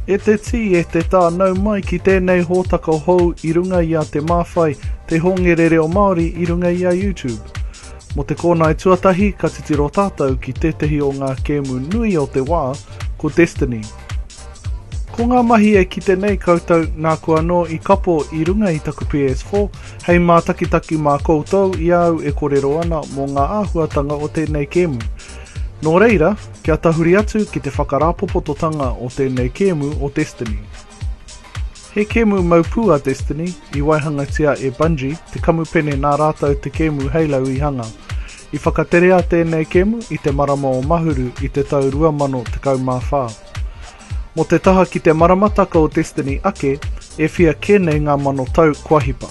E te tī, e te tā, nau mai ki tēnei hōtaka hou i runga i a Te Māwhai, te hōngere reo Māori i runga i a YouTube. Mō te kōnae tuatahi ka titiro tātou ki tētehi o ngā kēmu nui o te wā, ko Destiny. Ko ngā mahi e kite nei koutou nā koe anō i kapo i runga i taku PS4 hei mātakitaki mā koutou i a au e korero ana mō ngā āhuatanga o tēnei kēmu. Nō reira, kia tahuri atu ki te whakarāpopototanga o tēnei kēmu o Destiny. He kēmu mau pū a Destiny i waihangatia e Bungie, te kamupene nā rātou te kēmu Halo i hanga. I whakaterea tēnei kēmu i te marama o Mahuru i te tau 2014. Mō te taha ki te maramataka o Destiny ake, e whia kē nei ngā mano tau kua hipa.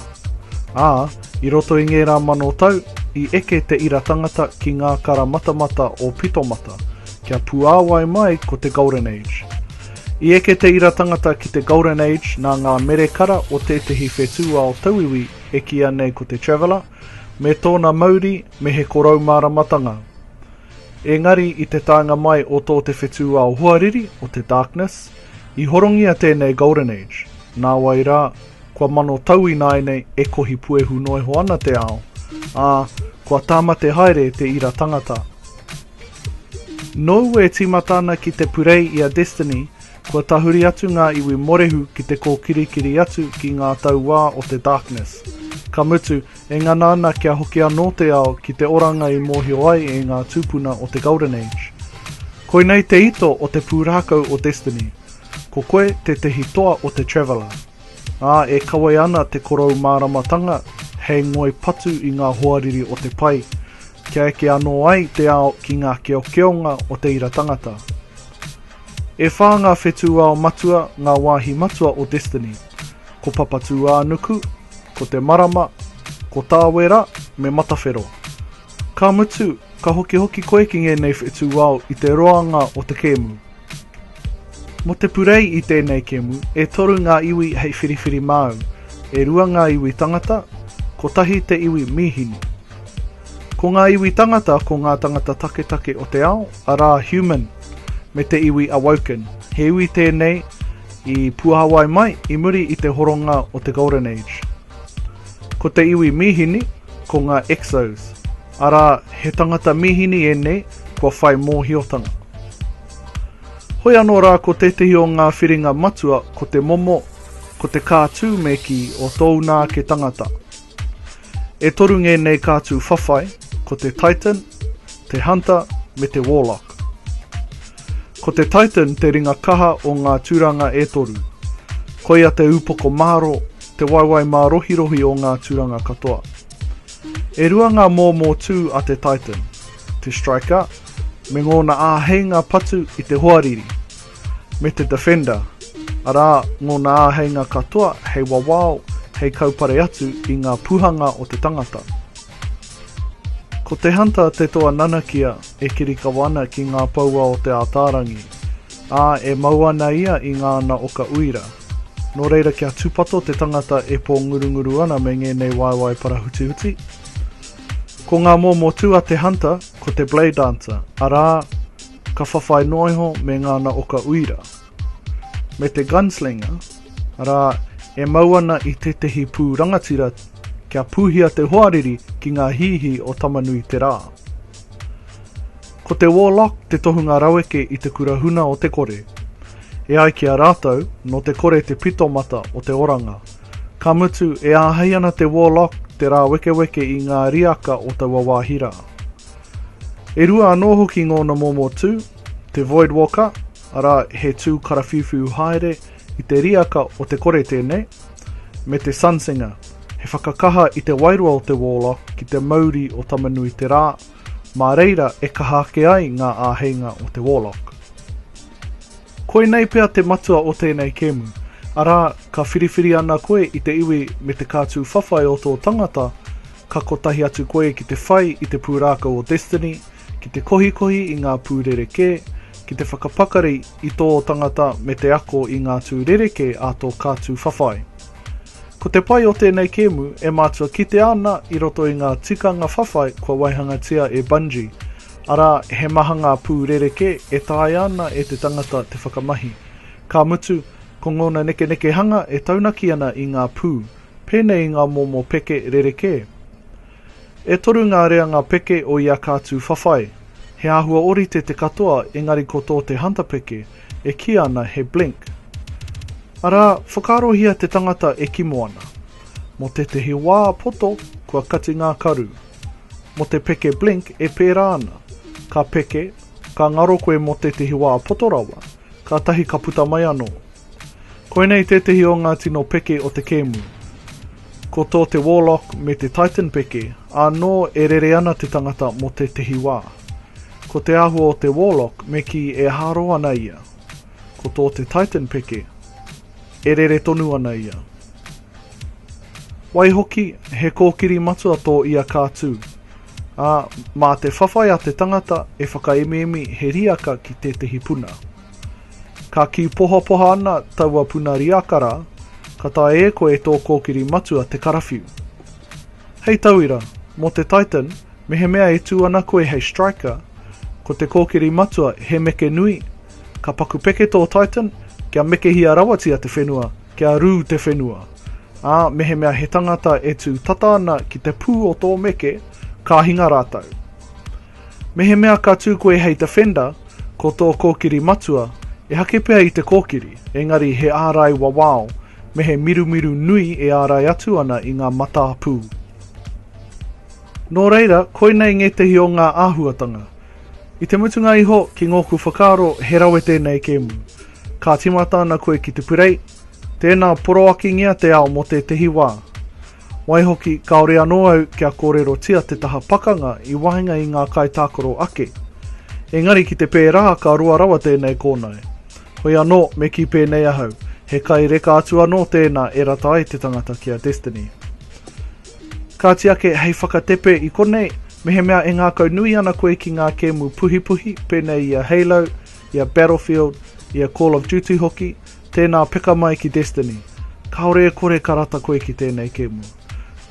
Ā, i roto i ngērā mano tau, i eke te ira tangata ki ngā kara matamata o Pitomata, kia puāwai mai ko te Golden Age. I eke te ira tangata ki te Golden Age nā ngā mere kara o tētehi whetūao tauiwi e kīia nei ko te Traveller, me tōna mauri me he koroumāramatanga. Engari i te taenga mai o tō te whetū ao hoariri, o te Darkness, i horongia tēnei Golden Age. Nāwai rā, kua mano tau ināianei e kohi puehu noa iho ana te ao, ā, kua tāmate haere te ira tangata. Nōu e tīmata ana ki te purei i a Destiny, kua tahuri atu ngā iwi morehu ki te kōkirikiri atu ki ngā tauā o te Darkness. Ka mutu, E ngana ana kia hoki anō te ao ki te oranga i mōhio ai e ngā tūpuna o te Golden Age. Koinei te ito o te pūrākau o Destiny. Ko koe tētehi toa o te Traveller. Ā, e kawē ana te korou māramatanga hei ngoi patu i ngā hoariri o te pai, kia eke anō ai te ao ki ngā keokeonga o te ira tangata. E whā ngā whetūao matua, ngā wāhi matua o Destiny. Ko Papatūānuku, Ko te marama, ko Tāwera me Matawhero. Ka mutu, ka hokihoki koe ki ngēnei whetū ao i te roanga o te kēmu. Mō te purei i tēnei kēmu, e toru ngā iwi hei whiriwhiri māu, e rua ngā iwi tangata, kotahi te iwi mīhini. Ko ngā iwi tangata ko ngā tangata taketake o te ao, arā human, me te iwi awoken. He iwi tēnei, I Puāwai mai, i muri i te horonga o te Golden Age. Ko te iwi mīhini, ko ngā Exos, arā, he tangata mīhini ēnei kua whai mōhiotanga. Hoi anō rā ko tētehi o ngā whiringa matua ko te momo, ko te kātū me kī o tōuna ake tangata. E toru ngēnei kātū whawhai, ko te Titan, te Hunter me te Warlock. Ko te Titan te ringa kaha o ngā tūranga e toru. Koia te ūpoko mārō, te waewae mārohirohi o ngā tūranga katoa. E rua ngā mōmō tū a te Titan, te Striker me ngōna āheinga patu i te hoariri, me te Defender, arā, ngōna āheinga katoa hei wawao, hei kaupare atu i ngā puhanga o te tangata. Ko te Hunter te toa nanakia e kirikawa ana ki ngā poua o Te Ātaarangi, ā, e mau ana ia i ngāna oka uira. Nō reira kia tūpato te tangata e pōngurunguru ana me ngēnei waewae parahutihuti. Ko ngā momo tū a te Hunter ko te Blade Dancer, arā, ka whawhai noa iho me ngāna oka uira, me te gunslinger, arā, e mau ana i tētehi pū rangatira kia pūhia te hoariri ki ngā hīhī o Tamanui-te-rā. Ko te Warlock te tohunga raweke i te kura huna o te kore. E ai ki a rātou, nō te kore te pitomata o te oranga. Ka mutu, e āhei ana te Warlock te rāwekeweke i ngā riaka o taua wāhi rā. E rua anō hoki ngōna momo tū, te voidwalker, arā, he tū karawhiuwhiu haere i te riaka o te kore tēnei, me te sunsinger, he whakakaha i te wairua o te warlock ki te mauri o Tamanui-te-rā, mā reira e kaha ake ai ngā āheinga o te warlock. Koinei pea te matua o tēnei kēmu, arā, ka whiriwhiri ana koe i te iwi me te kātū whawhai o tō tangata, Ka kotahi atu koe ki te whai i te pūrākau o Destiny, ki te kohikohi i ngā pū rerekē, ki te whakapakari i tō tangata me te ako i ngā tū rerekē a tō kā tū whawhai. Ko te pai o tēnei kēmu e mātua kitea ana i roto i ngā tikanga whawhai kua waihangatia e Bungie, arā, he maha ngā pū rerekē e taea ana e te tangata te whakamahi. Ka mutu, ko ngōna nekenekehanga e taunaki ana i ngā pū. Pēnei i ngā momo peke rerekē. E toru ngā reanga peke o ia kātū whawhai. He āhua ōrite te katoa engari ko tō te hunter peke, e kīa ana he blink. Arā, whakaarohia te tangata e kimo ana. Mō tētehi wā poto, kua kati ngā karu. Mō te peke blink e pērā ana. Ka peke, ka ngaro koe mō tētehi wā poto rawa. Kātahi ka puta mai anō. Koinei tētehi o ngā tino peke o te kēmu. Ko tō te Warlock me te Titan peke, ānō e rere ana te tangata mō tētehi wā. Ko te āhua o te Warlock me kī e hāro ana ia. Ko tō te Titan peke, e rere tonu ana ia. Waihoki, he kōkiri matua tō ia kātū. Ā, mā te whawhai a te tangata e whakaemiemi he riaka ki tētehi puna. Ka kī pohapoha ana taua puna riaka rā, ka taea e koe tō kōkiri matua te karawhiu. Hei tauira, mō te Titan, mehemea e tū ana koe hei striker, ko te kōkiri matua he meke nui, ka paku peke tō Titan kia mekehia rawatia te whenua, Kia rū te whenua. Ā, mehemea he tangata e tū tata ana ki te pū o tō meke, ka hinga rātou. Mehemea ka tū koe hei defender, ko tō kōkiri matua, ehake pea i te kōkiri, engari he ārai wawao, me he mirumiru nui e ārai atu ana i ngā matā pū. Nō reira, koinei ngētehi o ngā āhuatanga. I te mutunga iho, ki ngōku whakaaro, he rawe tēnei kēmu. Ka timata ana koe ki te purei, tēnā poroakingia te ao mō tētehi wā. Waihoki, kāore anō au kia kōrerotia te taha pakanga i waenga i ngā kaitākaro ake. Engari ki te pērā ka roa rawa tēnei kōnae. Hoi anō, me kī pēnei ahau, he kai reka atu anō tēnā e rata ai te tangata ki a Destiny. Kāti ake, hei whakatepe i konei, mehemea e ngākaunui ana koe ki ngā kēmu puhipuhi pēnei i a Halo, i a Battlefield, i a Call of Duty hoki, tēnā peka mai ki Destiny. Kāore e kore ka rata koe ki tēnei kēmu.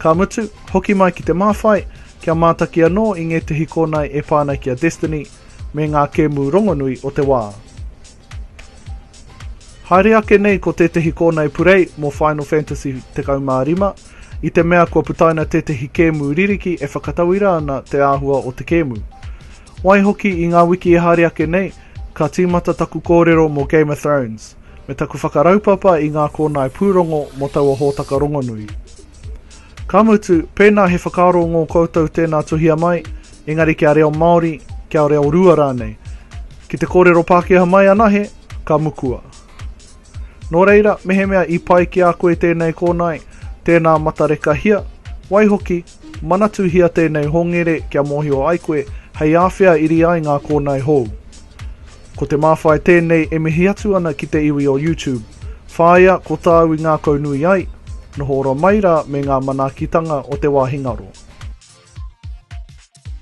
Ka mutu, hoki mai ki te māwhai, kia mātaki anō i ngētehi kōnae e pā ana ki a Destiny me ngā kēmu rongonui o te wā. Haere ake nei ko tētehi kōnae purei mō Final Fantasy 15, i te mea kua putaina tētehi kēmu ririki e whakatauira ana te āhua o te kēmu. Waihoki i ngā wiki e haere ake nei, ka tīmata taku kōrero mō Game of Thrones, me taku whakaraupapa i ngā kōnae pūrongo mō taua hōtaka rongonui. Ka mutu, pēnā he whakaaro ngō koutou tēnā tuhia mai, engari kia reo Māori, kia reo rua rānei. Ki te kōrero Pākehā mai anahe, ka mukua. Nō reira, mehemea i pai ki a koe tēnei kōnae, tēnā matarekahia, waihoki, Manatuhia tēnei hongere kia mōhio ai koe hei āwhea iri ai ngā kōnae hou. Ko te māwhai tēnei e mihi atu ana ki te iwi o YouTube. Whāia ko tāu i ngākaunui ai, noho ora mai rā me ngā manaakitanga o te wāhi ngaro.